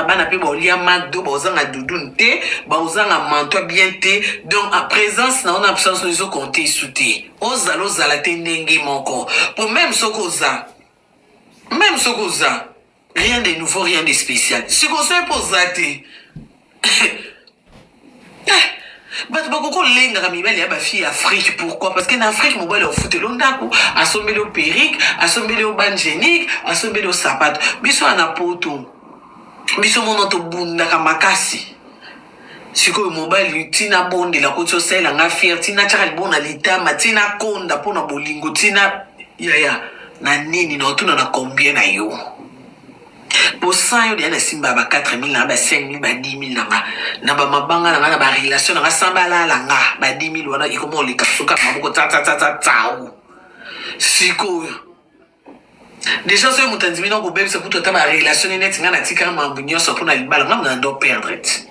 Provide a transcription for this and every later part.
bana mpe baolia mado baozanga dudun te baozanga manto bien te donc a présence na yo na absence no ezokonte esu te ozala ozala te ndenge moko mpo meme soki oza meme soki oza rien de nouveau rien de spécial sikosoki mpo oza te Eh, bato bakoki kolengaka mibali ya bafille ya afrike pourquoi parce que na afrike mobali ofuteli yo ndako asombeli yo perike asombeli yo bangenique asombeli yo sapato biso wana na poto biso mono tobundaka makasi sikoyo mobali tina bondela ko ti osalela nga fiere tina tiaka libo na litama tina konda mpo na bolingo tina yaya na nini na otuna na combien na yo po sans yo deja nasimbaka ba 4000 nanga ba 5000 ba 10000 nanga na ba mabanga nanga na ba relation nanga sans balala nga ba 10000 wana ekoma oleka soka maboko tsatsatsatsatsau sikoyo deja soki moto andimi na kobebisa kutu ata ba relation ne neti nga natikaka mambo nyonso mpo na libala nga mona ndo perdre ti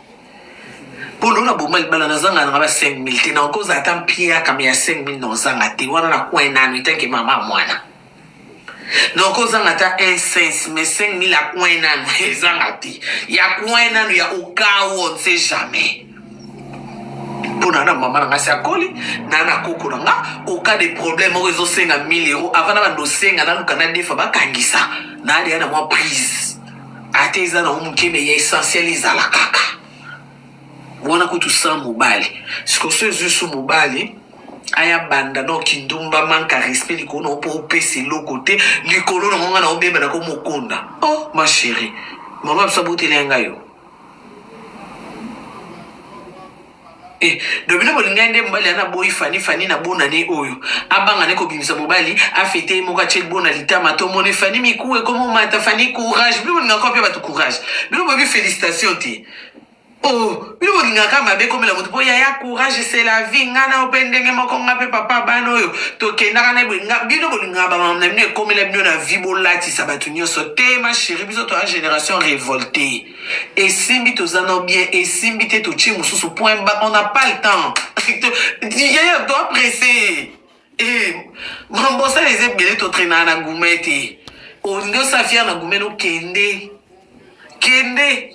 mpo loo na boma libala nazanga nanga ba 5000 te nakozala ata mpiaka me ya 5000 na ozanga te wana na coin nanu etanke mama mwana donc ozanga ata un sense mais 5000 ya coin nanu ezanga te ya coin nanu ya okao on sait jamais mpo na na mama na ngai si akoli na na koko na nga oka de problème moko ezosenga 1000 euro avant na bando osenga naluka na defa bakangisa naleya na mwa prise ata eza nango moke me ya essentiel ezala kaka wana kutu sans mobali sikoso ezwi su mobali aya banda donc kindumba manque à respect likolo na yo mpo opesa eloko te likolo na ngo ngai na obeba na ko mokonda oh ma chérie mama biso aboteli ya ngai yo Eh, do bino bolingai nde mobali ana boyi fani fani na bona ne oyo abanga ne kobimisa mobali afete ye moko atie bona litama tomoni fani miku ekomomata fani courage bino bolinga kope bato courage bino boyebi félicitation te Oh, bino bolingaka mabe ekomela moto mpo yaya courage c'est la vie nga na ope ndenge moko nga mpe papa bana oyo tokendaka na boye nga bino bolingaka bamama na bino ekomela bino na vie bolatisa bato nyonso te ma chérie biso toya génération révolte esimbi toza na bien esimbi te totie mosusu point ba on n'a pas le temps yaya doa presse e mambosala eza ebele totrenaka na gume te olingi osa fiere na gume nokende kende, kende.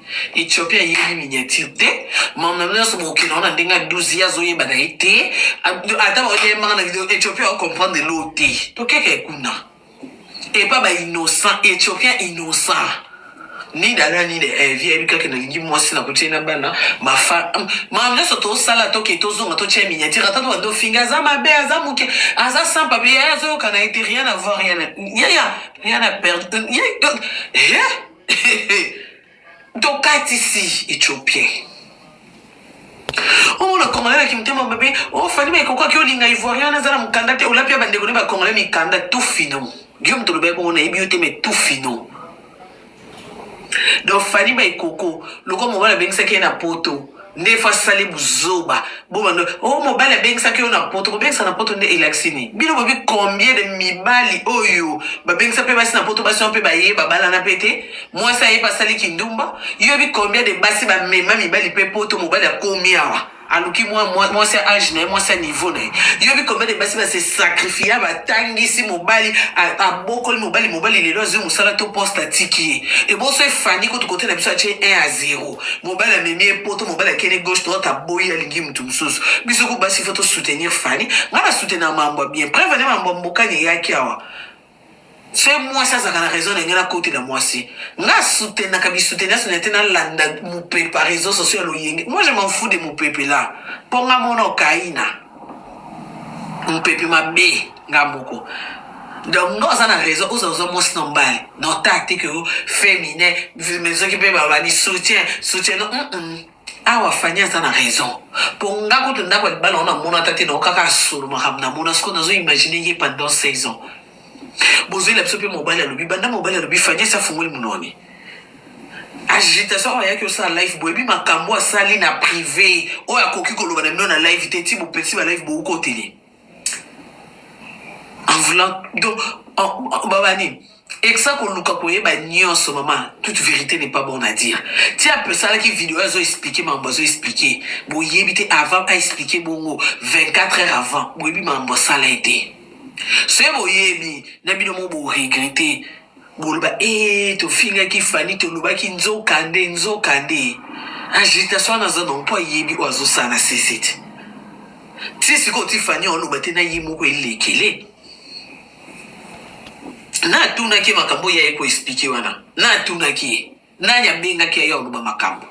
Ethiopie ayebi miniature te mamna nyonso bokokenda wana ndenge ya 12 ye azoyeba na ye te ata baoyembaka na video ethiopie aocomprendre elo te tokeke kuna epa bainnocent ethiopien innocent nida na nida evi ayebi kaka nalingi mwasi na kotie na bana mafa mamna nyonso tosala toke tozonga totia miniature ata tobanda ofinga aza mabe aza moke aza sans papier yaye azoyoka na ye te rien avoir rien yaya rien a perdre tokatisi ethiopien omona congolais na kimotema mabe ofani oh, mai kokaki olinga ivoirien wana aza na mokanda te olapi ya bandeko ne bacongolais mikanda tout fino guillaume tolobaki bongo nayebi yo te mai tout fino donc fani mai koko lokola mobali abengisaki ye na poto nde fo asali buzoba bomando o oh, mobali abengisaki yo na poto kobengisa na poto nde elakisi nini bino bobi combien de mibali oyo babengisa mpe basi na poto basi wana mpe baye babalana mpe te mwasi aye mpe asali kindumba yobi combien de basi bamema mibali mpe poto mobali akomi awa aluki mwasi ya age na ye mwasi ya niveau na ye yobi combien de basi base sacrifia batangisi mobali abokoli mobali mobali lelo azwi mosala to poste atiki ye eboso efandi kutu kote na biso atye 1 a 0 mobali amemi ye poto mobali akende gauche droite aboyi alingi motu mosusu biso ku basi fo tosoutenir fani ngai nasoutenir mambo ya bien preuve ane mambo ya mbokani eyaki awa se mwasi azalaka na raison na ngai nakotela mwasi nga soutenaka bisoutenir soutenir te nalanda mopepa réseau sociaux ya loyenge moi je m'en fous de mopepe la mpo nga mona okaina mopepe mabe nga moko donc no aza na raison oza ozwa mwasi na mobali donc tactique yo féminin mais soki mpe balobani soutien soutien no mm -mm. awa fani aza na raison mpo nga kutu ndako ya libala wana namona ata te nao kaka asolo makambo namona sikoyo nazo imagine ye pendant 16 ans bozwela biso mpe mobali alobi banda mobali alobi fani asi afungoli mononi agitation oyo ayaki osala live boyebi makambo asali na prive oyo akoki koloba na bino na live te ti bopesi ba live boukotele voulant donc baba nini ekisa koluka koyeba nyonso mama toute vérité n'est pas bon à dire ti asalaki video azo explike makambo azo explike boyebi te avant aexplike bongo 24 heures avant boyebi makambo asala ye te soki boyebi na bino mo boregrete boloba ee eh, tofingaki fani tolobaki nzoka nde nzoka nde agitation wana aza nango mpo ayebi oyo azosala na sese te ti sikoyo ti fani oloba te na ye moko elekele natunaki ye makambo oyo yaye koexplike wana natunaki ye Nani abengaki aye oloba makambo?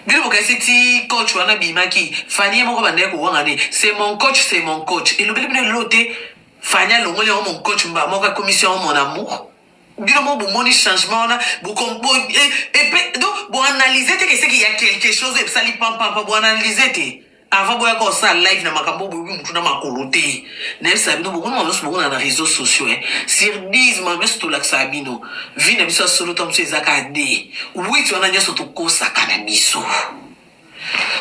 Bino bokanisi ti coach wana bimaki Fanny ye moko bandaki kowanga ne c'est mon coach c'est mon coach elobeli bino lelo te Fanny alongoli yango mon coach mbala moko akomisi yango mon amour bino moko bomoni changement wana epe donc boanalyse te keseki ya quelque chose oyo ebisali pampampa boanalyse te avant boyaka osala live na makambo boyebi motu na makolo te nayebisa bino bokona makambo nyonso bokona na réseau sociaux e sur 10 makambo nyonso tolakisaka bino vi na biso ya solo ntango mosusu ezaka de witi wana nyonso tokosaka na biso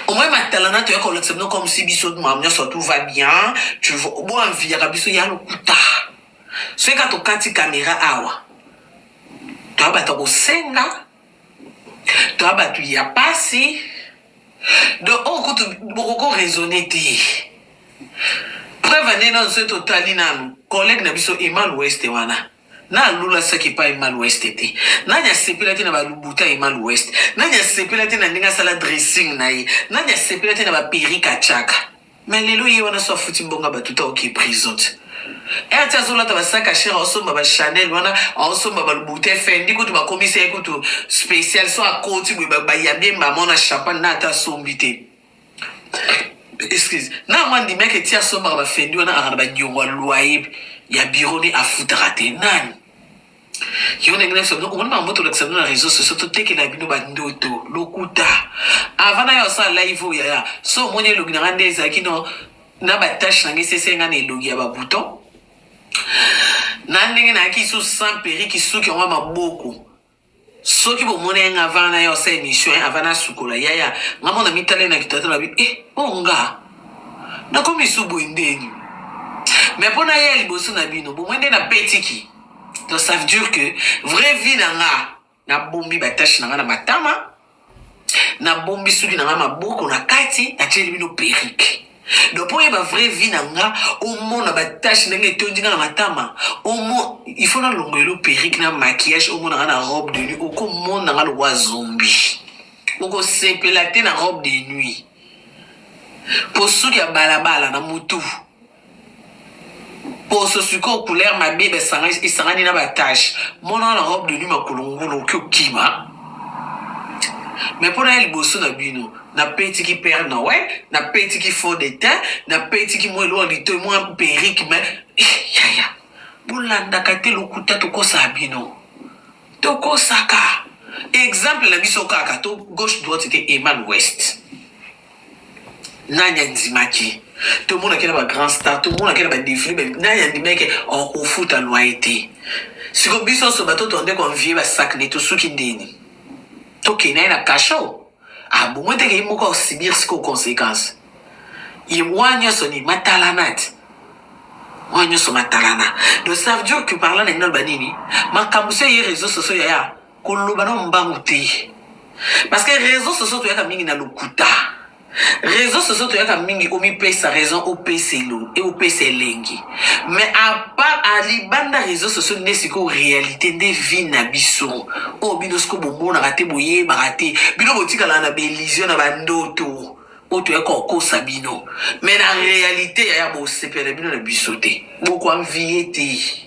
omoi matalana toyaka kolakisa bino comme si biso makambo nyonso tout va bien boanviyaka biso ya lokuta soki kaka tokati kamera awa toyabata kosenga toa bato ya pasi donc oyo kutu bokoko raisonne te preuve nde nano soki totali nano collègue na biso emal weste wana na alula saki epai emal weste te nani asepela te na balubuta emal weste nani asepela te na ndenge asala dressing na ye nani asepela te na baperike achaka Mais lelo ye wana so afuti mbongo ya batu te aoke prison te Ere ti azolata ba sac à cher aosomba ba Chanel wana aosomba ba Louboutin Fendi kutu bakomisi ye kutu special so akoti boye ba- bayambi ye mama na champagne na ata asombi te excuse na yango andimaki eti asombaka ba Fendi wana aka na ba niongo ya loyer ya bureau ni afutaka te nani yo ndenge nayebisa bino komoni makambo tolakisa bino na réseau sociaux totekela bino bandoto lokuta avant nayo asala live oyo yaya so omoni elongi na ngai nde ezalaki no na batache na ngai esese ngai na elongi ya babouton na ndenge nayaki lisusu sans periki suki yango ya maboko Soki bo mona ye nga avana na ye osa emission hein avana asukola yaya nga mona mitala ye na kito ata lobi eh oyo nga na komi su boye ndeni mais pona ye liboso na bino bo moni nde na petiki donc ça veut dire que vrai vie na nga na bombi ba tâche na nga na matama nabombi suki na ngai maboko na kati natieli bino perike donc mpo oyeba vraie vie na nga omona batache ndenge etondi nga na matama omo il faut nalongo elo perike na maquillage omona nga na robe de nuit okomona nga lokwa zombi okosepela te na robe de nuit mpo suki ya balabala na motu poso sikoyo couleur mabe esangani na batage mona na robe de nuit makolo ngulu oki okima me mpo naya liboso na bino napetiki père noel napetiki faux de tein napetiki mwa eloko litoi mwa perike me yaya eh, bolandaka te lokuta tokosaka bino tokosaka exemple na biso kaka to gauche droite te emal west nani andimaki tomonaki na bagrand star tomonaki na badefile me nani andimaki okofuta loye te siko biso nyonso bato tonde konvie basakne tosuki ndeni tokende ye na kasho abongo ah, teke ye moko asibir siko conséquence ye wana nyonso ni matalanati wana nyonso matalana donc ça veut dire que parla na ngai naloba nini makambo so ye réseau sociaux yaya koloba na mbangu te parce que réseau sociaux toyaka mingi na lokuta réseau sociaux toyaka mingi omipesa raison opesa elo e opesa elengi mais apart alibanda réseau sociaux nde sikoyo réalité nde vie na biso oyo oh, bino sikoyo bomonaka te boyebaka te bino botikalaka na baillusion na bandoto oyo oh, toyaka kokosa bino mais na réalité yaya bosepela bino na biso te bokoanvie te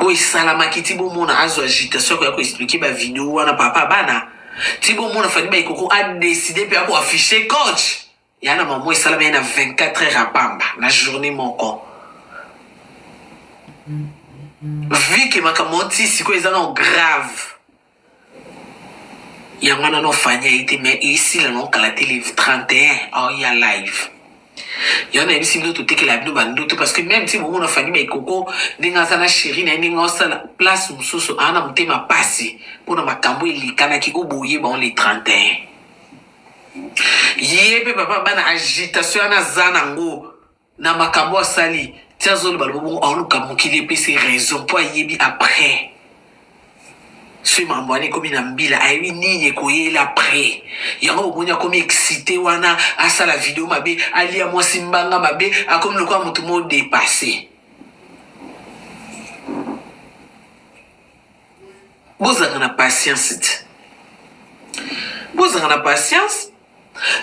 oyo esalamaki ti bomona azo agitation akoya ko expliquer ba video wana papa bana ti bomona fani baikoko adeside mpe ako affiche coach ya na mamo esalama ye na 24 heures ya pamba na journée moko vike makambo ti sikoyo eza nao grave yango wana no fanya ye te mais esila no kala te le 31 aoya live yango nayebisi bino totekela bino bandoto parce que même ti bomona fani maikoko ndenge aza na sheri na ye ndenge osala place mosusu aa na motema mpasi mpo na makambo elekanaki o boye bango le 31 ye mpe papa bana agitation wana aza nango na makambo asali ti azoloba lobo bongo aoluka mokili epesa ye raison mpo ayebi après soki makambo wana ekomi na mbila ayebi nini ekoyela après yango bomoni akomi excité wana asala video mabe alia mwasi mbanga mabe akomi lokola moto mo dépasse bozalaka na patience ti bozalaka na patience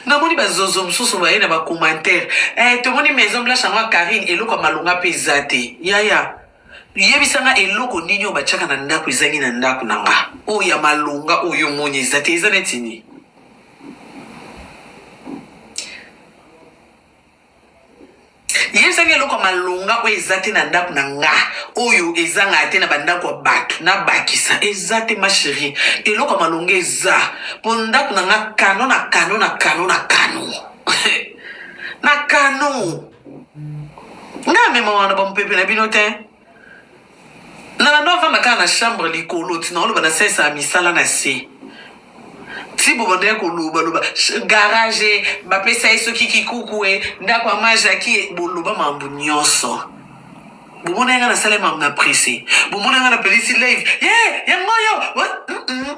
Namoni ba zozo mususu baye na ba commentaire eh tomoni maison blanche yango ya Carine eloko ya malonga pe eza te yaya yebisa nga eloko nini oyo batiaka na ndako ezangi na ndako na nga oyo ya malonga oyo omoni eza te eza neti nini yebisaki eloko ya malonga oyo eza te na ndako na nga oyo ezanga te na bandako ya bato nabakisa eza te ma cherie eloko ya malonga eza mpo ndako na nga kano na kano na kano na kano na kano nga amema wana bamopepe na bino te nalando avanda kaka na chambre likolo tina oloba na sensa ya misala na se ti bobandaki kolobaloba garage bapesa ye soki kikuku e ndako ya majaki e boloba mambo nyonso bomona yanga nasala mambo na presse bomona yanga napelisi live ye yango oyo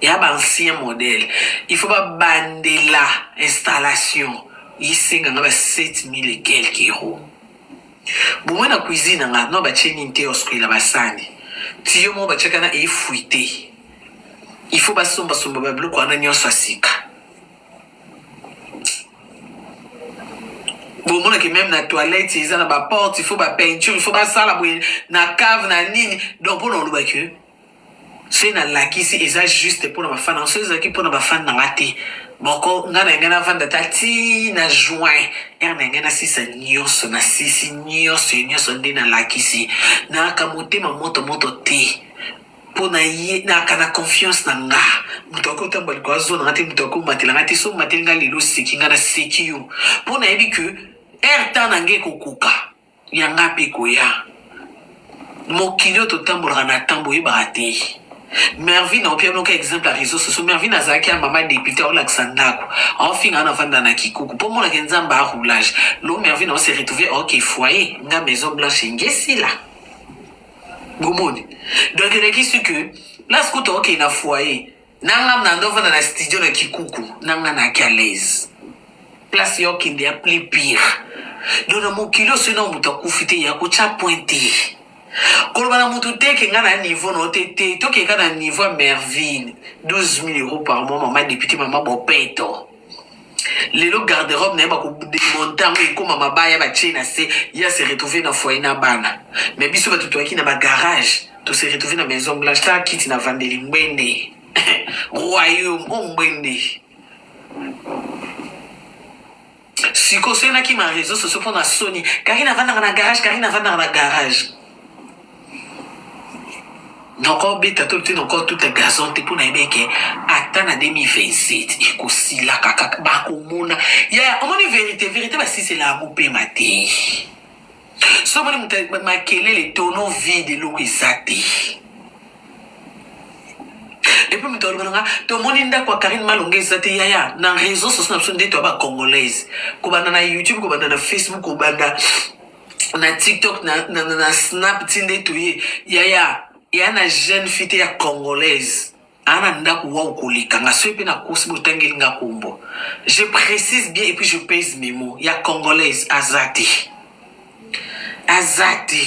ya ba ancien modèle il faut babandela installation esenga nga ba 7000 et quelques euros bomoi na cuisine na nga no batie nini te oskwela basani tiyo moko batiaka na efuite il faut basombasomba babiloko wana nyonso ya sika bomonake meme na toilette eza na baporte il faut bapeinture il faut basala boye na cave na nini donc mpona olobaki soki nalakisi eza juste mpo na bafani yango soki ezalaki mpo na bafani na nga te moko nga na yangai navanda ta ti na juin ere na yangai nasisa nyonso nasisi nyonso ya nyonso nde nalakisi nayaka motema moto moto te mpo na ye nayaka na confiance na nga moto akoki otamba likolo azona nga te moto akoki omatela nga te so omateli nga lelo oseki nga naseki yo mpo nayebi ke ere temps na ngai ekokoka Ya nga pe ekoya. Mokili oyo totambolaka na temps boyebaka te. Mervine aopia bino ka exemple ya reseaux sociaux. Mervine azalaki ya mama depute aolakisa ndako. Aofinga na vanda na kikuku. Po mona ke Nzambe a roulage. Lo Mervine ao se retrouver ok foyer nga maison blanche engesila. Bomoni? Donc elekisi que place kutu aokende na foyer nanga na ndo vanda na studio na kikuku nanga na ki alaise place yo kende ya plus pire do na mokili osi na moto akufi te ya kotya point te koloba na moto te ke nga na niveau na yo te te tokeka na niveau ya merville 12 000 euros par mois mama député mama bopeto lelo garde robe na ye bakodemonte yango ekóma mabaya batie na se ye ase retrouve na foyer na bana me biso bato toyaki na bagarage tose retrouve na maison blanche ta kiti na vandeli ngbende royaume o ngbende sikosenaki ma réseau socio mpo na soni karine avandaka na garage karine avandaka na garage noko beta to te noko tout est gazon te pona yebeke ata na 2027 ekosila kaka bakomona ya omoni verité verité basisela yango pema te so omoni moto makelele tono vide eloko eza te epuis moto aloba nanga tomoni ndako ya karine malonga eza te yaya na réseau sociaux na biso nde toya bacongolaise kobanda na youtube kobanda na facebook kobanda na tiktok na, na, na, na snap ti nde toye yaya ya na jeune fille te ya congolaise aa na ndako wau koleka nga soki mpe na kosi botangeli nga kombo je précise bien et puis je pèse mes mots ya congolaise aza te aza te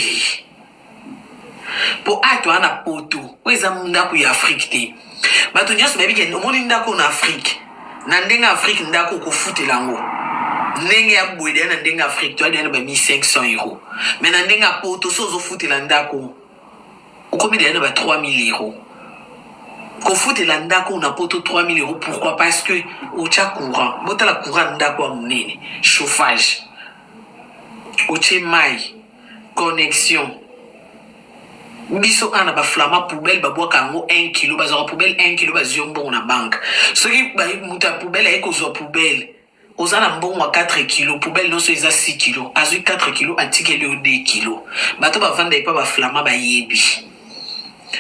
mpo awa toa na poto oyo eza ndako ya afrike te bato nyonso bayebi ke omoni ndako na afrike na ndenge afrike ndako okofutela yango ndenge ya bwede ya na ndenge afrike toa deya na ba 1500 euro mai na ndenge ya poto so ozofutela ndako okomi deya na ba 3000 euro kofutela ndako na poto 3000 euro pourquoi parce que otya courant botala courant ndako ya monene chauffage otye mai connexion biso awa na baflama poubele babwaka yango 1 kilo bazwaka poubele 1 kilo bazwi yo mbongo na banke soki moto ya poubele aye kozwa poubele oza na mbongo ya 4 kilo poubele nyonso eza 6 kilo azwi 4 kilo atikeli yo 2 kilo bato bavanda epa baflama bayebi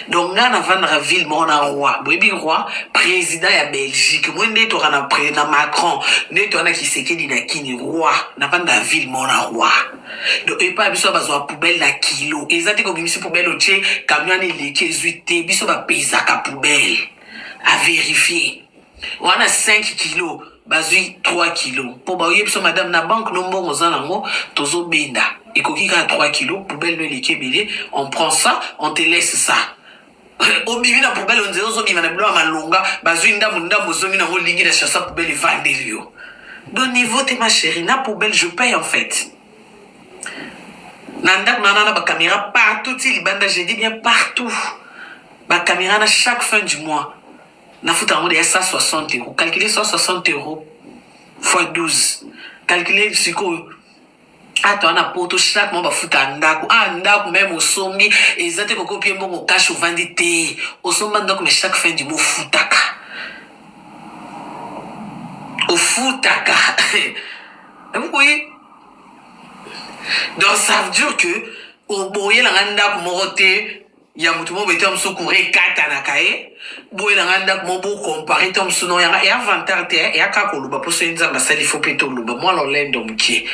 donc ngai navandaka ville moko na roi boyebi roi président ya belgique moi nde toka na na macron nde toka na kisekedi na kini roi navanda ville moko na roi donc epai biso bazwa poubelle na kilo eza te kobimisi poubelle otie camion eleki ezwi te biso bapesaka poubelle avérifie wana 5 kilo bazwi 3 kilo mpo baoye biso madame na banque no mbongo oza nango tozobenda ekoki kaka 3 kilo poubelle no eleki ebele on prend ça on te laisse ça obimi na poubelle onzela ozobima na bilo ya malonga bazwi ndambu ndambu ozomi nango olingi na chasa poubelle evandeli yo de niveau te ma chérie na poubelle je paye en fait na ndako na nana bacaméra partout ti libanda je dis bien partout bacaméra na chaque fin du mois na futa yango deya 160 euro calcule 160 euro fois 12 calcule sikoyo ata wana poto chaque mois bafuta ndako a ah, ndako meme osombi eza te kokopie mbongo kashe ovandi te osomba ndako me chaque fin du mois ofutaka ofutaka okoyi donc ça veut dire que oboyelanga ndako moko te ya moto moko bete mosusu kura ekatanaka ye boye na ngai ndako moko bokompare to mosusu no yanga eya vantar te eya kaka koloba mpo soki nzambe asali fo mpe toloba mwana olendo mokie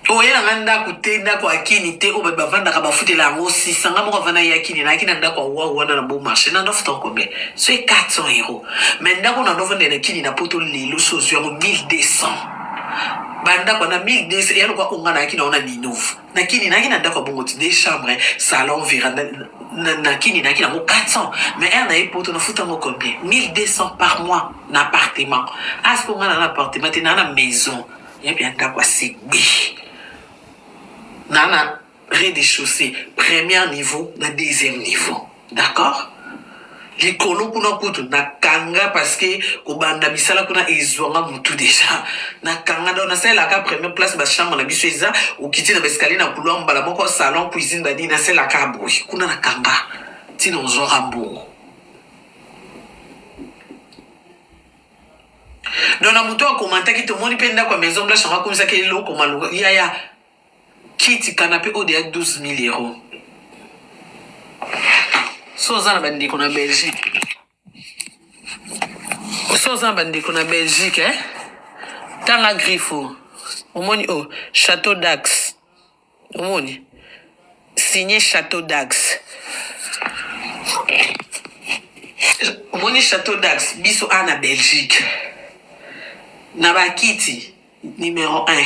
oye na ngai ndako te ndako ya kini te oyo bato bavandaka bafutela yango sisa ngai moko avanda ya kini nayaki na ndako ya wa wana na bo marché na ndofuta combien soki 400 euro mai ndako na ndovanda na kini na poto lelo so ozwi yango 1200 bandako na 1200 ya lokola konga nayaki na ona ninove na kini nayaki na ndako ya bongo ti de chambre salon veranda na kini nayaki nango 400 mais ere naye poto nafuta yango combien 1200 par mois na appartement asi konga na na appartement te naa na maison ya bia ndako ya segbe naa na rez de chaussee première niveau na deuxième niveau d'accord likolo kuna kutu na kanga parce que kobanda misala kuna ezwanga mutu deja na kanga donc nasalelaka première place bachambre na biso eza okiti na baescalier na couloir mbala moko salon cuisine banini nasalelaka boye kuna na kanga ntina ozwaka mbongo donc na moto akomantaki tomoni mpe ndako ya maison blanche yango akomisaki eloko maloka yaya Kiti canape oyo deya 12000 euro so oza na bandeko na belgique so oza na bandeko na belgique eh? tanga griffo omoni oyo oh, chateau dax omoni signe chateau dax omoni chateau dax biso a na belgique na bakiti Numero un.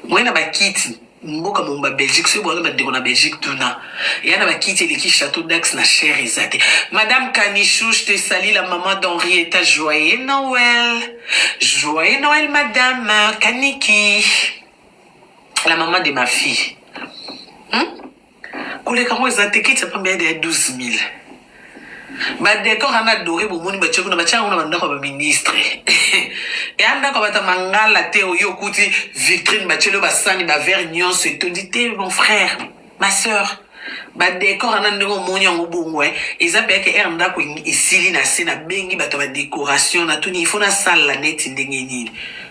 Moyen na bakiti mboka mobimba belgique soki boza bandeko na belgique tuna eya na bakiti eleki chateau dax na cher eza te madame kanichouche te sali la maman d'henrieta joyeux noël joyeux noël madame kaniki la maman de ma fille hmm? koleka ngo eza te kiti ya pamba yade ya 12000 badekor ana dore bomoni batie kuna batia yango na bandako ya baministre eya ndako ya bata mangala te oyo okuti vitrine batieli oyo basani bavere nyonso etondi te mon frère ma sœur badekor ana ndenge omoni yango bongo eh. eza mpe yake ere ndako esili na se nabengi bato ya badekoration natuni ifo nasalela neti ndenge nini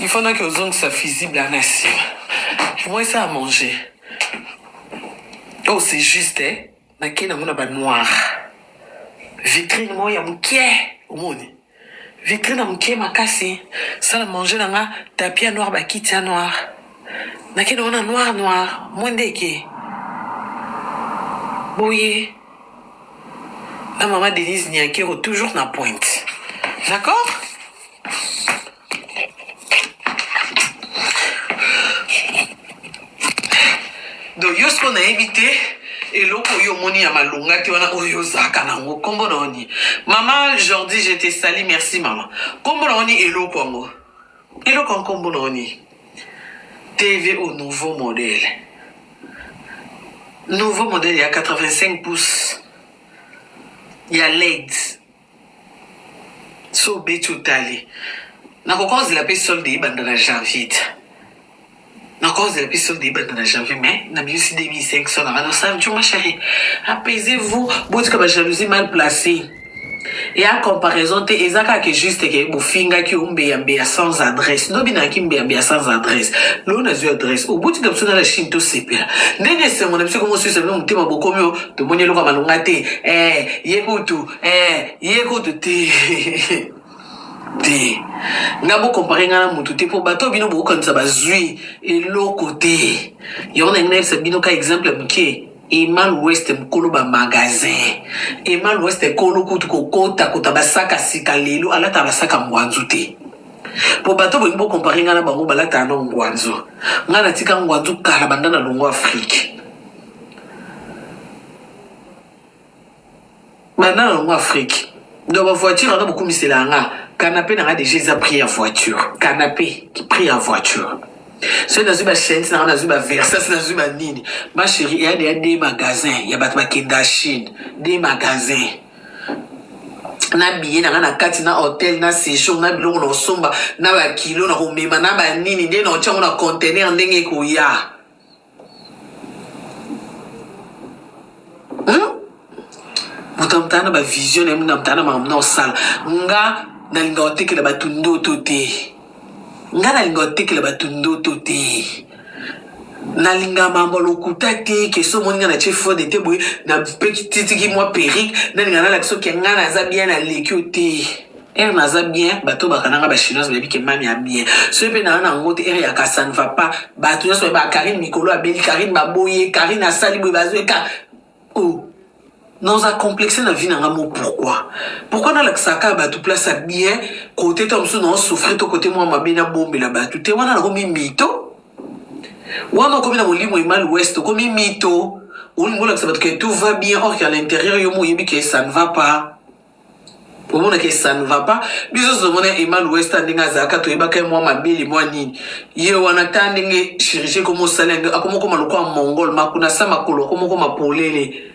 Il faut naki ozongisa fusible ana nsima moi ça à manger oh c'est juste eh? nake nango na banoir vitrine moko ya moke omoni vitrine ya moke makasi sala manger na nga tapi ya noir bakiti ya noir nake nango na noir noir mwa ndeke boye na mama denise niakero toujours na pointe d'accord donc yo siko nayebi te eloko oyo omoni ya malonga te wana oyo ozalaka nango nkombo na oni mama jordi je te sali merci mama nkombo na oni eloko yango eloko ya nkombo na oni tv au nouveau modèle nouveau modèle ya 85 pouces ya led so obeti otali nakokonzela mpe solde ebanda na janvier te nakonzela mpe solde ebanda na janvier mais nabimisi 2500 na bana osanjo ma chérie apaisez vous botika ba jalousie mal placée ya comparaison te eza kaka juste ke bofingaki ombeyambeya sans adresse ndobi nayaki mbeyambeya sans adresse loo nazwi adresse obotika biso na la chine tosepela ndenge esengo na biso ekomosuisa bino motema bokomi o tomoni eloko ya malonga te eh, ye kutu eh ye kutu te te nga bokompare nga na motu te mpo bato bino bokokanisa bazwi eloko te yango nalingi nayebisa bino ka exemple ya moke emal west mokolo bamagasin emal west ekolo kutu kokota kota basaka sika lelo alataka basaka ngwanzu te mpo bato bolingi bokompare nga na bango balataka na ngwanzu nga natika ngwanzu kala banda na longo afrike banda na longo afrique donc ba voiture wana bokumisela yanga kanape nanga deja eza prix ya voiture kanape prix ya voiture soki nazwi bachaines nanga nazwi baversas nazwi banini ma chérie eya deya de magasin ya bato bakenda chine de magasin na biye na ngai na kati na hotel na séjour na biloko na kosomba na bakilo na komema na banini nde na otyango na contener ndenge ekoya moto amotana na bavision na ye moto amotana na makambo na osala nga nalinga kotekela bato ndoto te nga nalinga kotekela bato ndoto te nalinga mambo lokuta te keso omoni nga na tie fode te boye napeki titiki mwa perike nalinga nalakisa oke nga naza bien naleki yo te Ère naza bien bato bakana nga ba chinoise bayebi ke mami a bien soki mpe naa na yango te ère ya ka ça ne va pas bato nyonso bayeba Carine mikolo abeli Carine baboye Carine asali boye bazoeka o oh. naoza complexe na vie na nga mo pourquoi pourquoi nalakisaka kaka bato place ya bien kote ntango mosusu nao souffrir to kote mwa mabe nabombela bato te wana nakomi mito wana okomi na molimo emal ouest okomi mito olingi olakisa bato ke tout va bien or ke à l'intérieur yo mo oyebi ke ça ne va pas omonaka ça ne va pas biso tozomona emal west ndenge azalaka toyebaka ye mwa mabele mwa nini ye wana ta ndenge chirurgie ekoma osala yango akomokoma lokola mongol makuna sa makolo akomokoma polele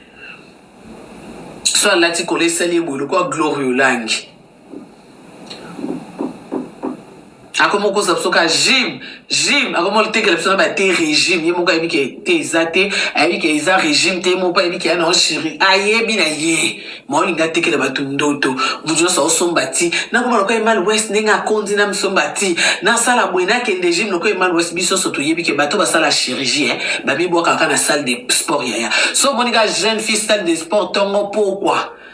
so alati kola esali ye boye lokola gloria olangi akoma okosa biso ka gym gym akoma otekela biso na ba te régime ye moko ayebi ke te eza te ayebi ke eza régime te ye moko ayebi ke ya na chiri ayebi na ye ma olingi atekela bato ndoto moto nyonso aosomba ti nakoma lokola emal west ndenge akondi na misomba ti nasala boye nakende gym lokola emal west biso nyonso toyebi ke bato basala chirurgie eh, bamibwakaka na salle de sport yaya so omoni ka jeune fille salle de sport tongo pokwa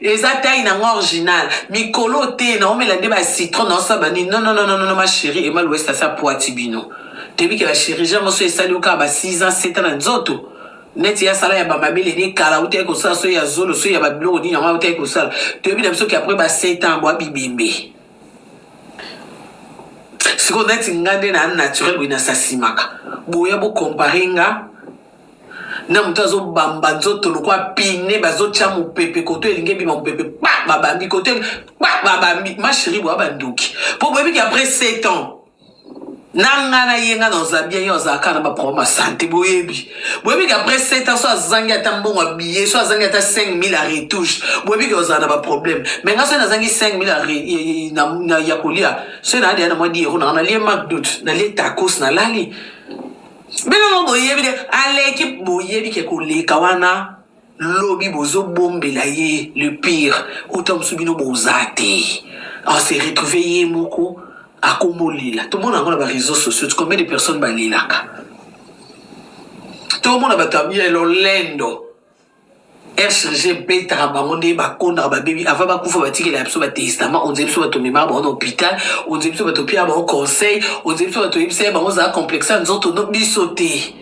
Eza taille na nga original. Mikolo te na omela nde ba citron na osala bani. Non non non non non ma chérie Emma Louest asa poati bino. Toyebi ke ba chirurgien moso esali yo kaka ba 6 ans 7 ans na nzoto. Neti ya sala ya ba mabele ni kala uta ekosala so ya zolo so ya ba biloko nini yango uta ekosala. Toyebi na biso ke après ba 7 ans bwa bibembe. Siko neti nga nde na naturel boye na sasimaka. Boya bo comparer nga na moto azobamba nzoto lokwa pine bazotya mopepe koto elingi ebima mopepe pa babambi koto pa babambi masheri boya bandoki mpo boyebi ke après 7 ans na nga na ye nga na oza bien ye azalaka na baproblème ya sante boyebi boyebi ke après 7 ans so azangi ata mbongo ya billet so azangi ata 5000 ya retouche boyebi ke ozala na baproblème mai nga soki nazangi 5000 ya kolia soki naadeya na mwa diero nanga nalie macdut nalie tacos nalali bino mo boyebi de aleki boyebi ke koleka wana lobi bozobombela ye le pire uta mosusu bino boza te ase retrouve ye moko akomolela tomona yango na bareseau sociaux combien de personnes balelaka tomona bato ya lolendo rcg ebetaka bango nde bakondaka babebi avant bakufa batikela ya biso batestament onzela biso bato memaka bango na hôpital onzela biso bato opiaka bango conseil onzela biso bato oyebisa ye bango zala complexe ya nzoto no biso te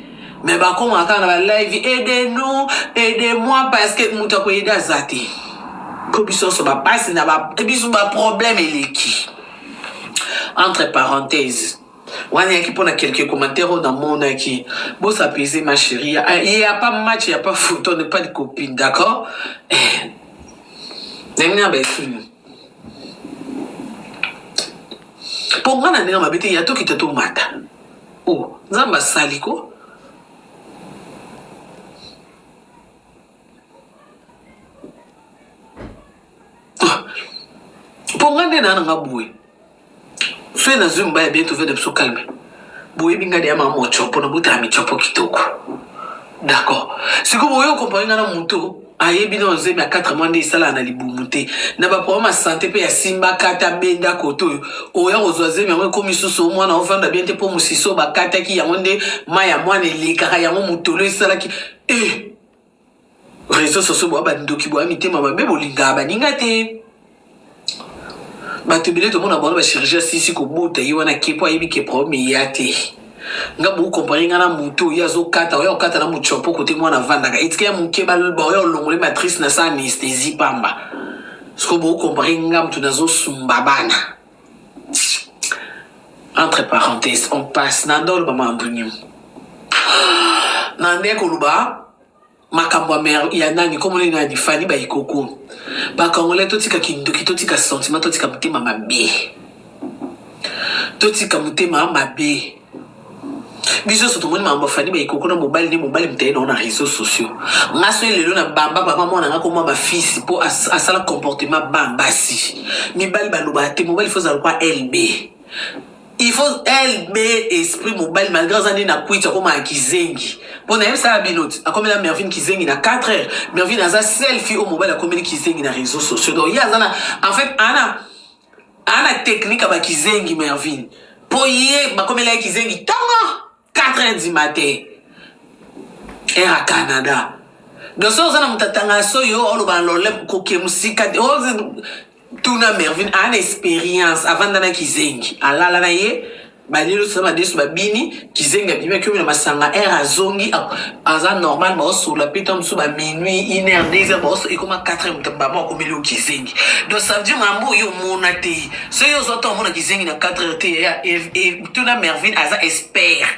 me bakomaka kaka na balive aide nous aide moi parce que moto akoyede aza te mpo biso nyonso bapasi na biso baproblème eleki entre parenthèse wana yaki mpo na quelques commentaires oyo namonaki bos apaiser ma chérie ya pa match ya pa foot on ne pas de copine d'accord eh, ndenge na baefini mpo ngai na ndenge mabe te ya tokita tomata o oh, nzambe asali ko ah, mpo ngai nde naa na nga boye fe nazwi mobali bien tozwa na biso calme boyebi ngai deya mama mocopo nabotala micopo kitoko d'accord sikoyo boye okompare ngai na moto ayebi na ozemi ya 4 mois nde esalaka na libumu te na baproblème ya sante mpe ya simba kata benda kote oyo oya kozwa zemi yango ekomi susu omwana ofanda bien te mpo mosisi oyo bakataki yango nde mai ya mwana elekaka yango motolo esalaki e eh! reseau soso boa bandoki boa mitema mabe bolingaka baninga te bato ebele tomona bango bachirurgie asisi kobota ye wana ke mpo ayebi ke problème eya te nga bokompare nga na moto oyo azokata oyo akokata na mocopo kote mwana avandaka etika ya moke baoyo olongole matrice na sa anesthésie pamba sikoyo bokompare nga moto nazosumba bana entre parenthèse on passe na ndolo mama ambunyu na nde koloba makambo ya nani komona ye nani fani bayikoku bakongole totika kindoki totika sentiment totika motema mabe totika motema mabe biso nyonso tomoni makambo afandi baikoko na mobali nde mobali mitaye nao na réseau sociaux nga soki lelo na bamba bamba mwana nga komwa bafisi mpo asala comportement ba basi mibali balobaka te mobali fo ozala kwa lb il faut lb esprit mobali malgré aza nde na kwiti akomaka kizengi mpo nayebisaka bino ti akomela mervine kizengi na 4 heures mervine aza selfi oyo mobali akomeli kizengi na réseau sociaux donc ye aza na en fait ana ana technique ya bakizengi mervine mpo ye bakomela ye kizengi ntongo 4 heures du matin ere ya canada donc soki oza na moto atanga soyi oyo oloba lole koke mosika te tuna mervine aa na expérience avanda na kizengi alala na ye Balilu sasa madesu babini kizengi abimi akiomi na masanga heure azongi aza normal baosola mpe ntango mosusu ba minuit une heure deux heure baoso ekoma 4 heure moto bama akomeli yo kizengi donc ça veut dire mambo oyo omona te soki ozwa ntango omona kizengi na 4 heure te ya tuna mervine aza expert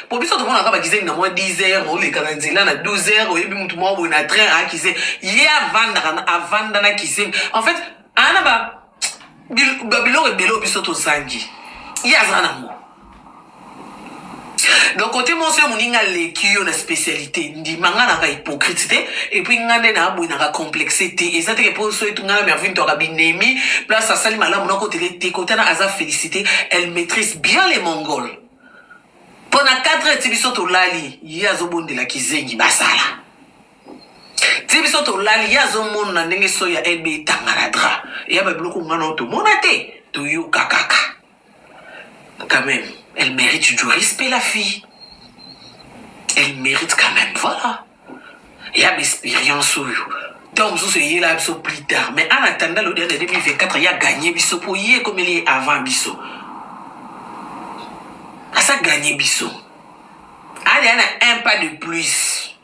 po biso tomonaka bakizengi na mwa 10 heures oleka na nzela na 12 heures oyebi motu mwa boye na train akize ye avandaka avanda na kizengi en fait ana ba biloko ebele oyo biso tozangi ye aza nango donc kote monso yo moninga aleki yo na spécialité ndima nga naka hypocrite te epuis nga nde na aboyi naka complexe te eza teke mpo so etu nga na mervine toaka binemi place asali malamu nakotele te kotana aza félicité elle maîtrise bien les mongols mpo na 4 ti biso tolali ye azobondela kizengi basala ti biso tolali ye azomona ndenge so ya ebe etangana dra ya babiloko nga nao tomona te toyoka kaka quand même elle mérite du respect la fille elle mérite quand même voilà ya baexpérience oyo ntango mosusu eyela biso plus tard mais en attendant le odea de 2024 ya gagne biso mpo ye ekomeli ye avant biso aza gagne biso aya na un pas de plus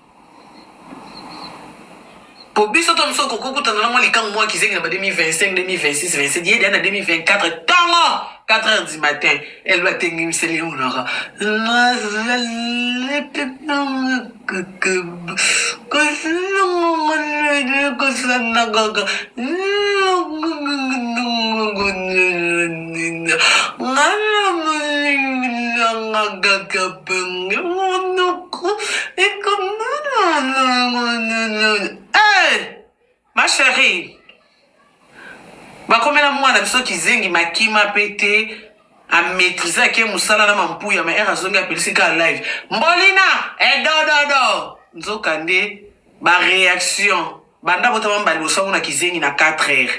po biso to biso okoki kokutana na mwa likango mwa kizengi na ba 2025 2026 27 ye deya na 2024 ntongo 4 heures du matin elba atengimiseli ye monoko kosanakaka ngana molingi nanga kaka Monoko Ma chérie, bakomela mwana biso kizengi makima mpe te amaîtrise ake mosala na mampuya ma ere azongi apelisi kaka live mbolina edododo nzoka nde baréaction banda botama mbali bosango na kizengi na 4 heures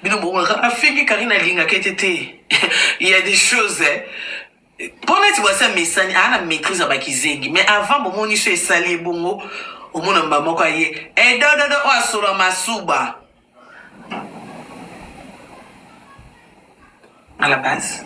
bino bokomaka afingi karine alingaka ete te ya des choses eh. Po neti bwasi amesani aa na maitrise ya ba kizengi mais avant bo moni soyi esali ye bongo omona mbala moko aye eh dododo oyo asolo ya masuba à la base.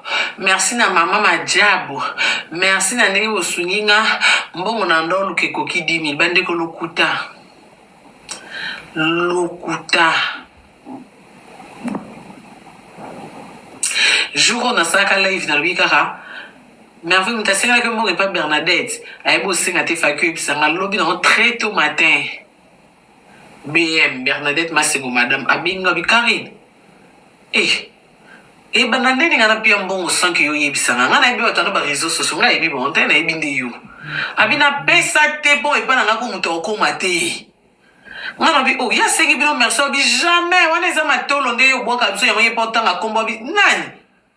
Merci na maman majabu merci na ndenge bosungi nga mbongo na ndo oluka ekoki 10000 bandeko lokuta lokuta jour oyo nasalaka live nalobi kaka merveille moto asengelaki mbongo epa bernadette ayebi osenga te faki oyebisanga lobi nango très tôt matin BM Bernadette Masego madame abenga bi Carine eh ebanda nde ninga na pia mbongo sans que yo yebisa nga nga na yebi wata na ba réseaux sociaux nga yebi bango te na yebi nde yo abi na pesa te po epa na nga ko moto akoma te nga na bi oh ya sengi bino merci abi jamais wana eza matolo nde yo bwaka biso yango ye po tanga kombo abi nani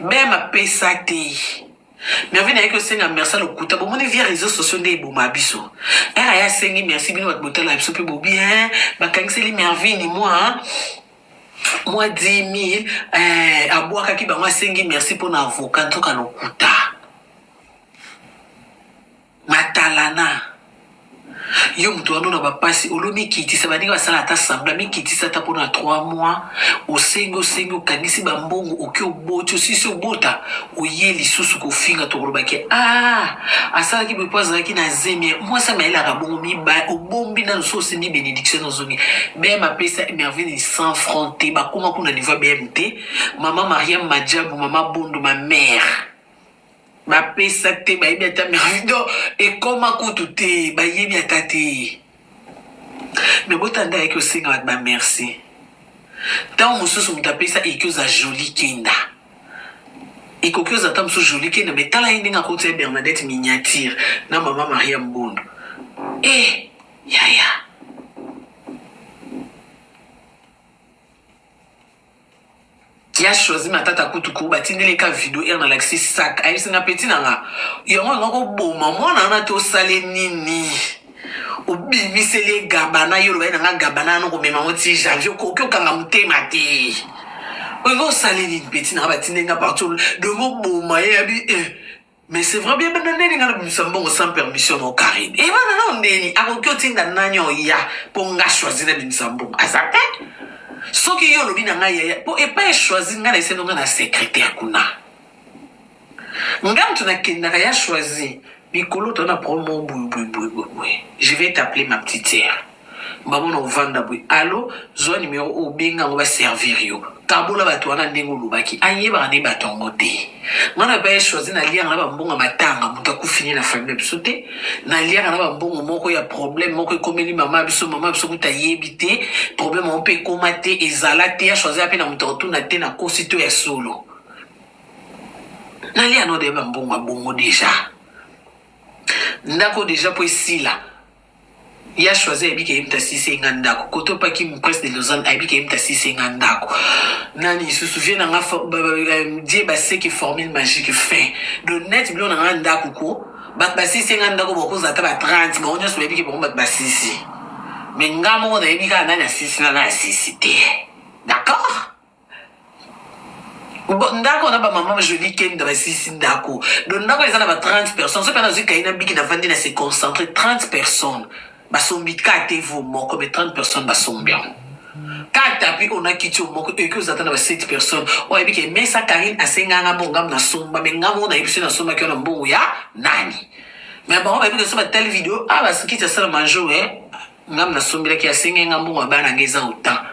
Bema pesa te. Merveille nayaki osenga merci lokuta bomoni via réseaux sociaux nde eboma biso era ya asengi merci bino bato botala biso mpe bobi hein, bakangiseli mervini mwa mwa 10000 eh, abwakaki bango asengi merci mpo na avoka nzoka lokuta matalana yo moto wana na bapasi olo mikitisa baninga basala ata sambla mikitisa ata mpona 3 mois osengi osengi okangisi bambongo oki oboti osisi obota oye lisusu kofinga tokolobaki a ah, asalaki boye mpo azalaki na zemi mwasi amayelaka bongo miba obombi nano so osimbi benediction ozongi bm apesa mervine 100 franc te bakoma kuna niveau ya bm te mama mariam majabu mama bondo ma mare Bapesa te, bayebi ata merci. Donc, ekoma kutu te, bayebi ata te. Mais botanda yaki osenga bato ba merci. Ntango mosusu moto apesa eki oza jolie kenda. Ekoki oza ata mosusu jolie kenda, mais tala ye ndenge akoti ya Bernadette miniature na mama Maria Mbondo. Eh, yaya. ya choisi matata kutu ko batindeli ka video ere nalakisi sak ayebisi nga peti na nga yango yanga koboma mwana wana te osale nini obimiseli ye gabana yo olobai na nga gabana yana okomema yango ti janvier okoki okanga motema te olingi osale nini peti na nga batindeli nga partout dongo boma ye yabi eh. Mais c'est vrai bien bana nani ngana bimisa mbongo sans permission no Karine. Et bana na ndeni akoki otinda nani oya po nga choisir na bimisa mbongo. Aza pe soki yo olobi na ngai yaya po epai choisir ngai na esendo ngai na secrétaire kuna. Nga mutu nakendaka ya choisir mikolo to na promo boye boye boye boye. Je vais t'appeler ma petite sœur. bango na ovanda boye alo zwa numero oyo obenga yango baservir yo kabola bato wana ndenge olobaki ayebaka nde bato yango te nga na baye choisi naliaka na bambongo ya matanga moto akufini na famille ya biso te naliaka na bambongo moko ya problème moko ekomeli mama ya biso mama ya biso kuta ayebi te problème yango mpe ekoma te ezala te ya choisi mpe na moto akotuna te na kosi to ya solo nalia no de bambongo ya bongo deja ndako deja mpo esila Ya Choisy ayebi ke ye moto asilisa ye nga ndako. Kote oyo pa Kim Prince de Lausanne ayebi ke ye moto asilisa ye nga ndako. Nani lisusu? Vieux na nga for- ba- ba- ba- Die Baseke formule magique fin. Donc net biloko na nga ya ndako ko bato basilisa ye nga ndako bakozala ata ba 30 bango nyonso bayebi ke bango bato basilisi. Mais nga moko nayebi kaka nani asilisi na nani asilisi te. D'accord? ndako na bamama joli kenda basilisi ndako do ndako eza na ba 30 personnes soki nazwi kai na biki navandi na se concentre 30 personnes basombi ka te vo moko me 30 personnes basombi yango ka tapi ona kiti yo moko eki ozata na ba 7 personnes oyo ayebi ke mesa karine asenganga mbongo ngamu nasomba me ngamu oyo nayebi soki nasombaki yo na mbongo ya nani me bango bayebi ke so batali video a ah, basikiti asala manjour e eh, ngamu nasombelaki asengenga mbongo ya bana ngai eza otan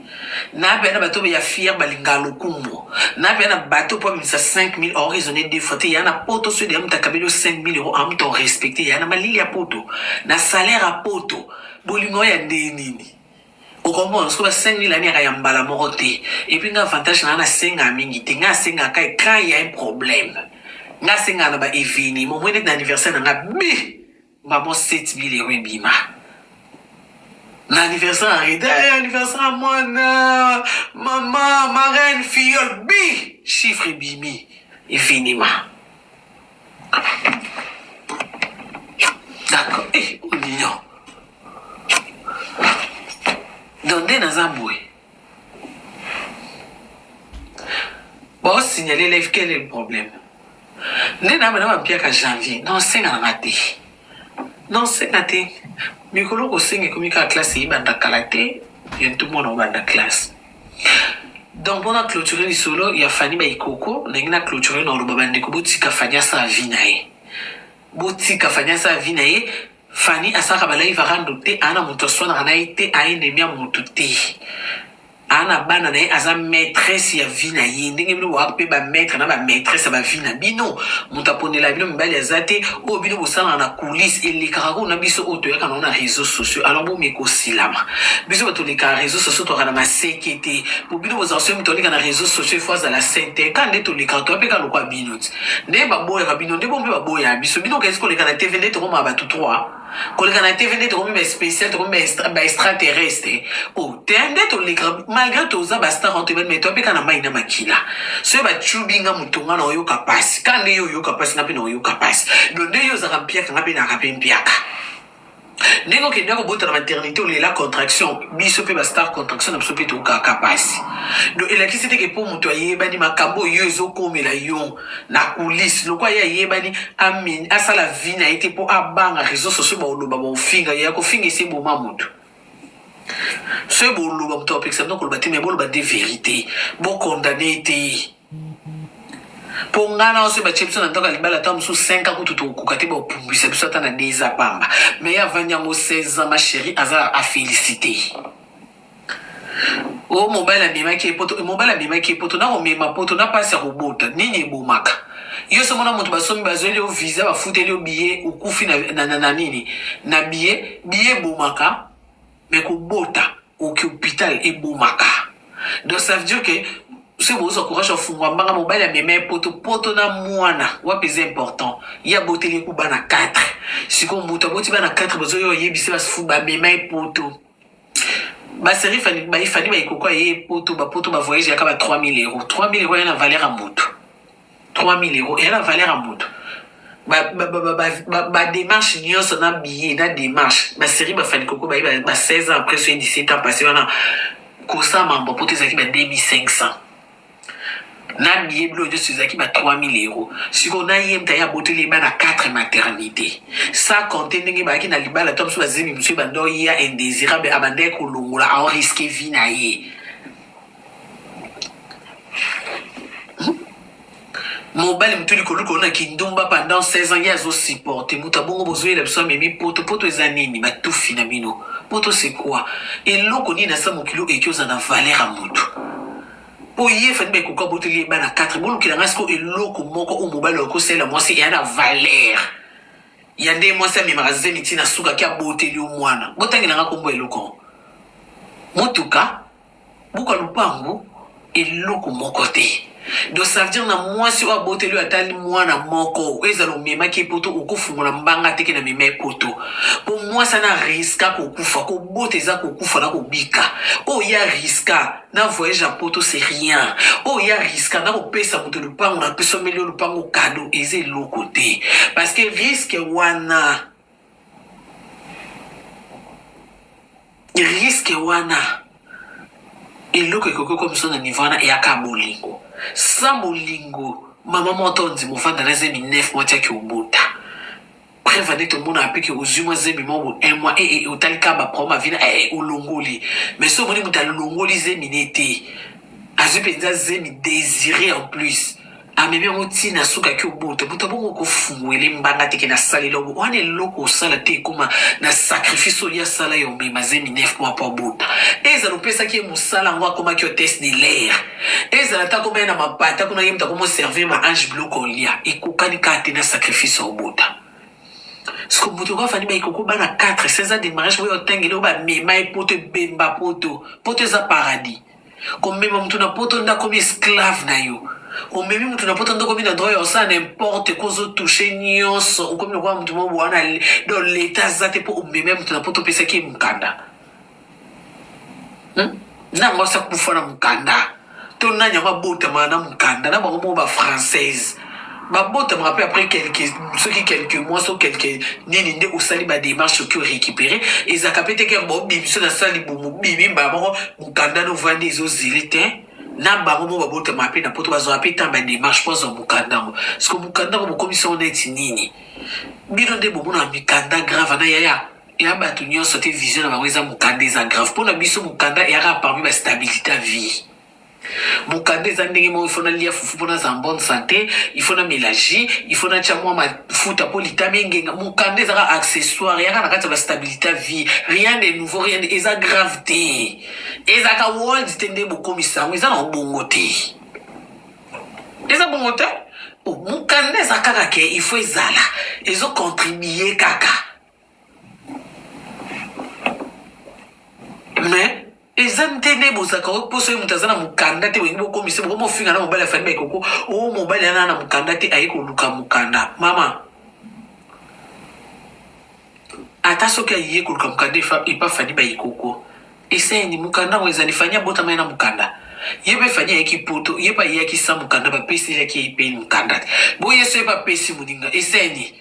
na bia na bato ya fier balinga lokumbo na bia na bato mpo amemisa 5000 or raisonne deux fois te ya na poto soki deya moto akabeli yo 5000 euro a moto respecte ya na malili ya poto na salaire ya poto bolingo ya ndenge nini okomona soki ba 5000 ani yaka ya mbala moko te epuis nga avantage naa nasengaka mingi te nga asengaka quand ya un problème nga asengaka na ba eveniment omoi neti na anniversaire na nga bi Maman 7000 euros ebima. Na anniversaire ya Reda, eh, anniversaire ya mwana, mama, marraine, filleule, bi chiffre ebimi efinima. D'accord, eh, olinyo. Donc nde naza boye. Bon, signaler live, quel est le problème Nde na bana bampiaka janvier, na osenga na nga te. Na osenga te. Mikolo kosenga ekomi kaka classe eyebanda kala te, bientôt mwana obanda classe. Donc mpona clôturer lisolo ya Fanny Baikoko, ndenge na clôturer na oloba bandeko botika Fanny asala vie na ye. Botika Fanny asala vie na ye, Fanny asalaka ba live rando te ana mutu aswanaka na ye te aye nemi ya mutu te ana bana na ye aza maîtresse ya vie na ye ndenge bino boyaka mpe ba maître na ba maîtresse ya ba vie na bino moto aponela bino mibali aza te oyo bino bosalaka na coulisse elekaka kuna biso oyo toyaka nango na réseau sociaux alors bomeka osilama biso bato olekaka réseau sociaux toyaka na maseke te po bino bozala soki moto aleka na réseau sociaux ifo azala sente ka nde tolekaka toya mpe ka lokwa bino nde baboyaka bino nde bo mpe baboya biso bino kasi koleka na tv nde tokomaka bato 3 koleka na tv nde tokomi baspécial tokomi baextraterrestre o oh, te nde toleka malgré toza bastar wana toyebani mai toapeka na mai na makila soki bacubi nga moto nga na oyoka mpasi ka nde yo oyoka mpasi nga mpe na oyoka mpasi do nde yo ozaka mpiaka nga mpe naka mpe mpiaka ndenge okenda kobota na maternité olela contraction biso mpe bastar contraction na biso mpe tokaka mpasi do elakisi teke mpo moto ayebani makambo oyo ezokomela yo na kulise lokola ye ayebani asala vi na ye te mpo abanga réseau sociaux baoloba baofinga ye akofinga esi eboma moto soki boloba moto apekisa bino koloba te me boloba nde verité bokondane te mpo ngai na ose batye biso na ntango ya libala ata mosusu 5 ans kutu tokokoka te baopumbwisa biso ata na deza pamba mai avandi yango 16 ans ma chérie aza afélicité o oh, mobali amemaki ye poto mobali amemaki ye poto na komema poto na mpasi ya kobota nini ebomaka yo somo na moto basomi bazweli yo visa bafuteli yo biye okufi na, na, na, na nini na biye biye ebomaka Mais kobota oki hopital ebomaka donc ça veut dire que soki bozwa courage ofungwa mbanga mobali amema ye poto poto na mwana wapi eza important ye aboteli eku bana 4 sikoyo moto aboti bana 4 bazoya oyebisi basifu bamema ye poto baserie fani baifani baikokoa ye poto bapoto bavoyage yaka ba 3000 euro 3000 euro ya na valeur ya moto 3000 euros eya na valeur ya moto bademarche ba, ba, ba, nyonso na billet na démarche baserie bafani koko baye ba, ba 16 ans après soye 17 ans passé wana kosa mambo poto ezalaki ba 2500 na billet blo nyonso ezalaki ba 3000 euros sikoyo na ye mta ye aboteli ye bana 4 maternité sa compte ndenge bayaki na libala to mosusu bazemi mosusu ebanda oya indésirable abandaki kolongola aoriske vie na ye mobali motu likoluka na kindumba pendant 16 ans ye azosupporte moto abongo bozoyela biso amemi poto poto eza nini batufi na bino poto c'est quoi eloko nini asa mokili oyo eki oza na valeur ya motu mpo ye fani baekoka boteli ye bana 4 bolukela ngai siko eloko moko oyo mobali okosalela mwasi eya na valeur ya nde mwasi amemaka zemi ntina suka ki aboteli yo mwana botangela ngai kombo eloko motuka Buka lupangu eloko moko te do ça veut dire na mwasi oyo aboteli oyo atali mwana moko oyo ezala omemaki epoto okofungola mbanga teke na mema epoto mpo mwasi ana riska kokufa kobota eza kokufa na kobika oyo ya riska na voyage ya poto c'est rien oyo ya riska na kopesa moto lupango na pesomeli yo lupango kado eza eloko te parce que riske wana riske wana eloko ekoki komiso na niveau wana eyaka bolingo sa bolingo mama moto onzi mofanda na zemi 9 mois tiaki obota preuve nde tomonaka mpe ke ozwi mwa zemi moko un mois ee eh, eh, otali kaka baproma vina ee eh, olongoli mais soki omoni moto alongoli zemi ne te azwi mpenza zemi désiré en plus amemi yango ntina na suka ki obota buta bongo kofunguele mbanga teke na salela obo wana eloko osala te ekoma na sacrifice oyo asala ya omema zemi 9 mois mpo abota ezala opesaki ye mosala yango akomaki hotesse de l'air ezala ata akomaki na mapata kuna ye moto akomoservir ma ange biloko olia ekokani kaka te na sacrifice ya obota siko moto yango afandi baikoko bana 4 16 ans de mariage oyo otangeli oyo bamema ye poto ebemba poto poto eza paradis komema motu na poto nde akomi esclave na yo omemi motu na poto nde okomi na droit ya kosala n'importe ko ozotouche nyonso okomi lokola motu moko wana do leta aza te mpo omemi ya motu na poto opesaki ye mokanda hmm? nango asa kufa na mokanda to nani yango abotamaka na mokanda na bango moko bafrancaise babotamaka mpe après quelque soki quelque mois so quelque nini nde osali bademarche soki orécupere ezalaka mpe te kere baobibiso na sala libumu bibi mbala moko mokanda no ovandi ezozili te na bango mo babotamaka mpe na poto bazwaka mpe ntan bademarche mpo azwa mokanda yango siko mokanda yango bokomisi yango neti nini bino nde bomonaka mikanda grave na yaya ya bato nyonso te vision na bango eza mokanda eza grave mpo na biso mokanda eyaka parmi bastabilité ya vie mokanda eza ndenge moko ifo nalia fufu mpo nazala bonne santé ifo namela jus ifo natya mwa mafuta mpo litama engenga mokanda ezaka accessoire yaka na kati ya bastabilité ya vie rien de nouveau rien de... eza grave te ezaka world te nde bokomisa yango eza na bongo te eza bongo te oh, mokanda eza kaka ke ifo ezala ezocontribue kaka mais Eza nde nde bozalaka oyo poso ye moto aza na mokanda te bolingi bokomisa bokomi ofinga na mobali ya Fally Baikoko o mobali ana na mokanda te aye koluka mokanda mama ata soki aye koluka mokanda efa- epa Fally Baikoko eseni mokanda yango ezali Fally abotama ye na mokanda ye mpe Fally ayaki poto ye mpe ayaki sa mokanda bapeselaki ye mpe mokanda te boye so ye mpe apesi moninga eseni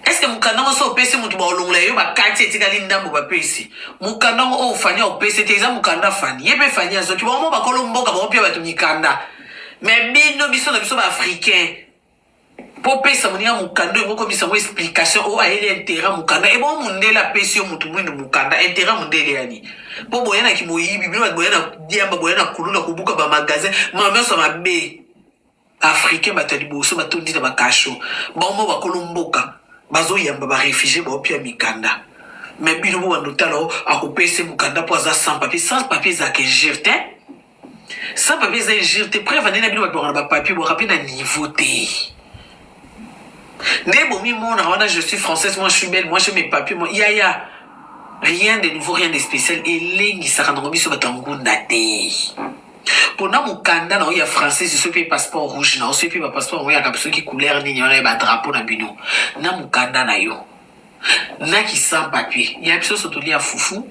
eske mokanda ngo so opesi moto baolongola yo bakati etikali ndambo bapesi mokanda ngo oyo fani aopesi te eza mokanda fani ye mpe fani azoki bango mo bakolo mboka bango mpe bato mikanda me bino biso na biso baafricain mpo opesa moninga mokanda oyo bokomisa yango explication oyo ayeli interet mokanda ebongo eh, mondele apesi yo moto mwindu mokanda interet mondele yani mpo boya na kimoyibi bino bato boya na diamba boya na kuluna kobuka bamagasin mama nyonso mabe Ba africains bato ya liboso batondi na ba cachot bango bakolo mboka bazo yamba ba refugies bao pia mikanda mais bino bo bando tala o akopesa ye mukanda po aza sans papier sans papier ezalaka injure te sans papier eza injure te preuve nde na bino babengana ba papier bwaka mpe na niveau te nde bomimona wana je suis française moi je suis belle moi je mes papier moi yaya ya. rien de nouveau rien de spécial elengisaka nango biso bato ya ngunda te pona mokanda na yo ya français soki mpe passeport rouge na yo soki mpe bapasseport yango yaka soki couleur nini wana ya badrapo na bino na mokanda na yo na kisan papier ya biso so tolia fufu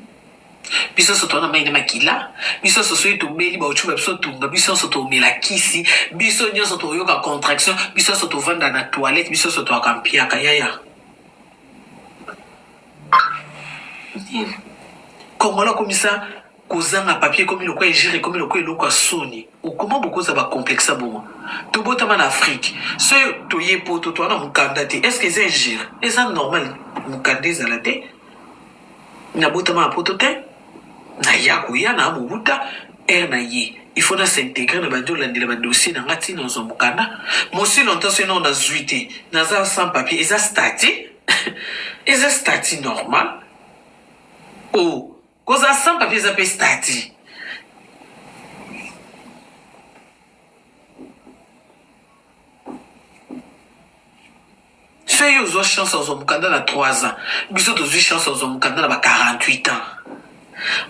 biso nyonso towana mai na makila biso nyonso soki tobeli bauti ba biso tumba biso nyonso tomela kisi biso nyonso toyoka contraction biso nyonso tovanda na toilette biso nyonso toyaka mpiaka yaya kongola komisa Kozanga papier ekomi lokola injure, ekomi lokola eloko ya soni. Comment bokoza ba complexa bongo? Tobotama na Afrique. Ce toye poto toa na mukanda te. Est-ce que eza injure? Eza normal mukanda ezala te. Nabotama na poto te. Naya koya na Mobuta heure na ye. Il faut na s'intégrer na bandi olandela ba dossier na nga tina ozwa mukanda. Mosi longtemps ce non nazwi te. Naza sans papier. Eza statut. eza statut normal. Oh, Kozala sans papier eza pe statut. Soki yo ozwa chance ozwa mokanda na 3 ans, biso tozwi chance ozwa mokanda na ba 48 ans.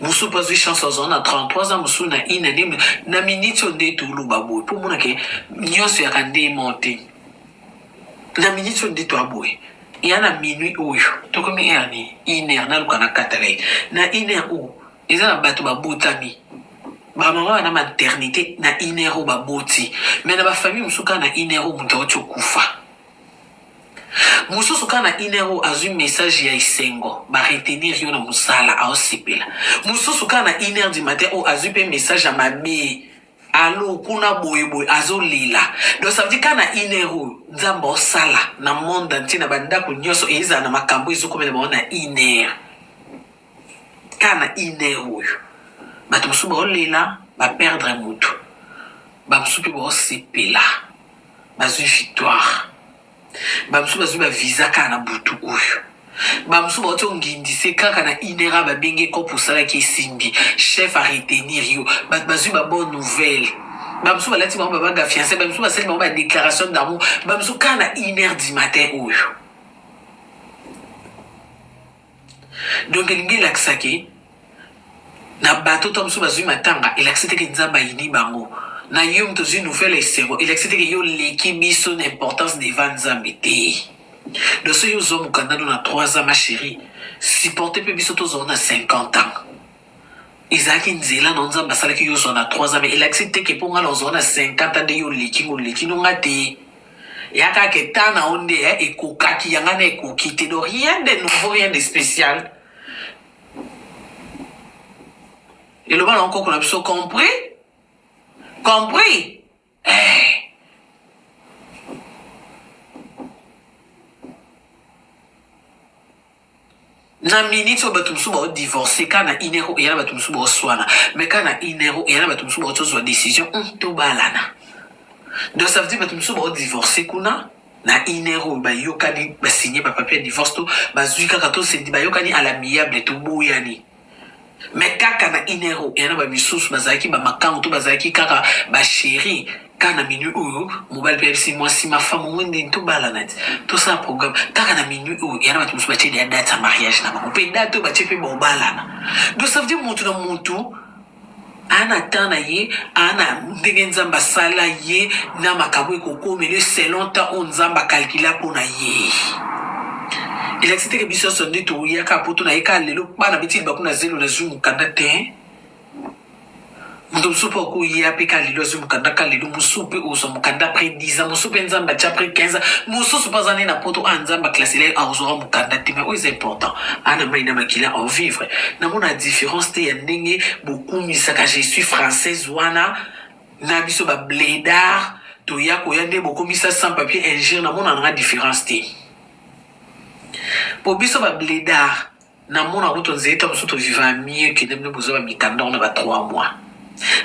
mosusu mpe azwi chance azala na 33 ans mosusu na ine nde na miniti oyo nde toloba boye mpo omonake nyonso yaka nde moko te na minute oyo nde toa boye ya na minuit oyo tokomi heure nini une heure naluka na katala ye na une heure oyo eza na bato babotami bamama wana maternité na une heure oyo baboti mai na bafamille mosusu kaka na une heure oyo moto auti okufa mosusu kaka na une heure oyo azwi message ya esengo baretenir yo na mosala aosepela mosusu kaka na une heure du matin oyo azwi mpe message ya mabe alo kuna boye boye azolela donc ça veut dire ka na une heure oyo nzambe osala na monde entier na bandako nyonso ezala na makambo ezokomela bango na une heure ka na une heure oyo bato mosusu baolela baperdre motu bamosusu mpe baosepela bazwi victoire bamosusu bazwi baviza kaka na butu oyo bamosusu bauti ongindise kaka na inera babenge kope osalaki esimbi chef aretenir yo bato bazwi babonne nouvelle bamosusu balati bango babanga fiance bamosusu basali bango badéclaration d'amour bamosusu kaka na inere du matin oyo donc elingi elakisa ke na bato to mosusu bazwi matanga elakisi te ke nzambe ayini bango na yo moto ozwi nouvelle esengo elakisi te ke yo oleki biso na importance devant nzambe te donc soki ozwa mokanda no na 3 ans ma chérie supporte mpe biso tozwa na 50 ans ezalaki nzela na nzambe asalaki yo ozwa na 3 ans mais elakisi te ke mpo ngai na ozwa na 50 ans nde yo oleki ngo oleki no ngai te ya kaka ke temps na yo nde eh, ekokaki ya ngai na ekoki te donc rien de nouveau rien de spécial eloba na nkoko na biso compris compris na miniti oyo bato mosusu baodivorce kaka na une heure eya na bato mosusu baoswana mai kaka na une heure eya na bato mosusu baoti ozwa décision hmm, tobalana donc ça veut dire bato mosusu baodivorce kuna na une heure oyo bayokani basigne bapapie ya divorce to bazwi kaka tosendi bayokani à l'amiable toboyani mais kaka na inero ya na bamisusu bazalaki bamakango to bazalaki kaka basheri kaka na minui oyo mobali mpe ayebisi mwasi mafamu ngo ndeni tobalana ti tosala programme kaka na minui oyo ya na bato mosusu batie deya date ya mariage na bango mpe date oyo batie mpe baobalana donc ça veut dire moto na moto aa na temps na ye aa na ndenge nzambe asala ye na makambo ekokomela ye selon temps oyo nzambe akalkila mpo na ye elakisi teke biso nyonso nde toyaka poto na ye kaka lelo bana beti libaku na zelo nazwi mokanda te moto mosusu mpe okoya mpe ka lelo azwi mokanda ka lelo mosusu mpe ozwa mokanda apres 10 ans mosusu mpe nzambe atya apres 15 ans mosusu mpe aza nde na poto a ah, nzambe aklasela ye aozwaka ah, mokanda te mai oyo eza important ana mai na makila aovivre Namona difference te ya ndenge bokumisaka je suis française wana na biso ba bledard toya koya nde bokomisa sans papier injure namona nanga difference te po biso ba bledard namona kutu nzete mosusu toviva mieux ke nde boza ba mitandor na ba 3 mois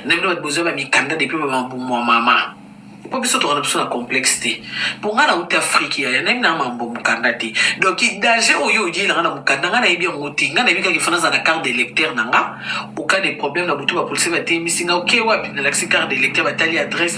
na bino bato boza bamikanda depuis bamambumu ya mama mpo biso tokana biso na complexe te mpo ngai nauti afrike yaya nayebi na mambo mokanda te donc danger oyo oyela ngai na mokanda ngai nayebi yango te ngai nayebi kaka ifana aza na carte d'électeur na nga oka de problème na butu bapolisi bateyemisi nga oke wapi nalakisi carte d'électeur batali adresse